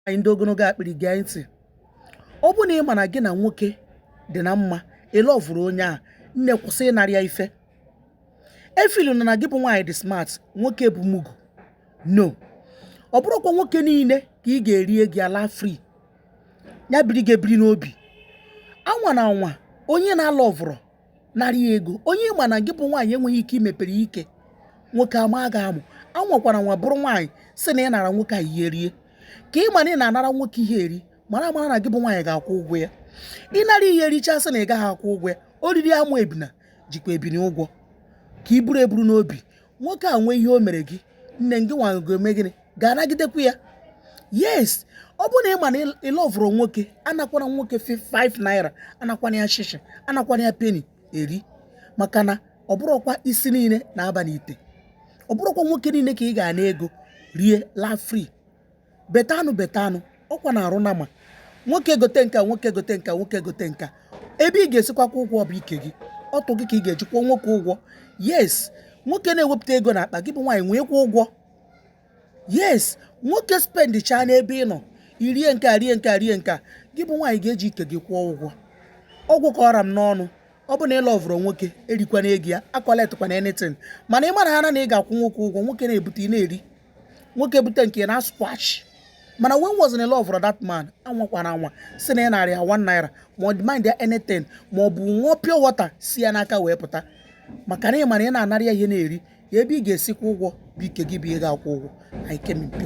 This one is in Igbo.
anyị ndị ogologo akpịrị gee ntị ọ bụ na ị ma na gị na nwoke dị na mma ị lọvụrọ onye a nne kwụsị ịnara ya ife efiluna na gị bụ nwaanyị dị smart nwoke bụ mugu no ọ bụrọkwa nwoke niile ka ị ga-erie gị ala free ya biri gị ebiri n'obi anwana anwa onye ị na-alọvụrọ nara ya ego onye ị ma na gị bụ nwaanyị enweghị ike imepere ike nwoke ama aga amụ anwakwana anwa bụrụ nwaanyị sị na ị nara nwoke a ihe rie ka ị ma na ị na-anara nwoke ihe eri mara mara na gị bụ nwaanyị ga-akwụ ụgwọ ya ị nara ihe ericha sị na ị gaghị akwụ ụgwọ ya o riri amụ ebini jikwa ebini ụgwọ ka i buru eburu n'obi nwoke a nwee ihe o mere gị nne gị nwa ga-eme gịnị ga-anagidekwu ya yes ọ bụrụ na ị ma na ị lọvụrọ nwoke anakwana nwoke 5 naira anakwana ya shishi anakwana ya peni eri maka na ọ bụrọkwa isi niile na-aba n'ite ọ bụrọkwa nwoke niile ka ị ga-ana ego rie laa free better know better know ọkwa na-arụ na ma nwoke gote nka nwoke gote nka nwoke gote nka ebe ị ga-esikwa kwụọ ụgwọ bụ ike gị ọtụ gị ka ị ga-eji kwụọ nwoke ụgwọ yes nwoke na-ewepụta ego n'akpa gị bụ nwaanyị nwee kwụọ ụgwọ yes nwoke spendichaa n'ebe ị nọ i rie nke a rie nke a rie nke a gị bụ nwaanyị ga-eji ike gị kwụọ ụgwọ ọ gwụ ka ọ ra m n'ọnụ ọ bụ na ị lọvụrọ nwoke erikwana ego ya akọletịkwana anything mana ị mara ha na ị ga-akwụ nwoke ụgwọ nwoke na-ebute ị na-eri nwoke bute nke a ị na-asquash mana when once ị lọvụrọ that man anwakwana anwa sị na ị nara ya one naira ma ọ demand ya anything ma ọ bụ ṅụọ pure water si ya n'aka wee pụta maka na ị mara ị na-anara ya ihe na-eri ya ebe ị ga-esi kwụọ ụgwọ bụ ike gị bụ ihe ga-akwụ ụgwọ I came in peace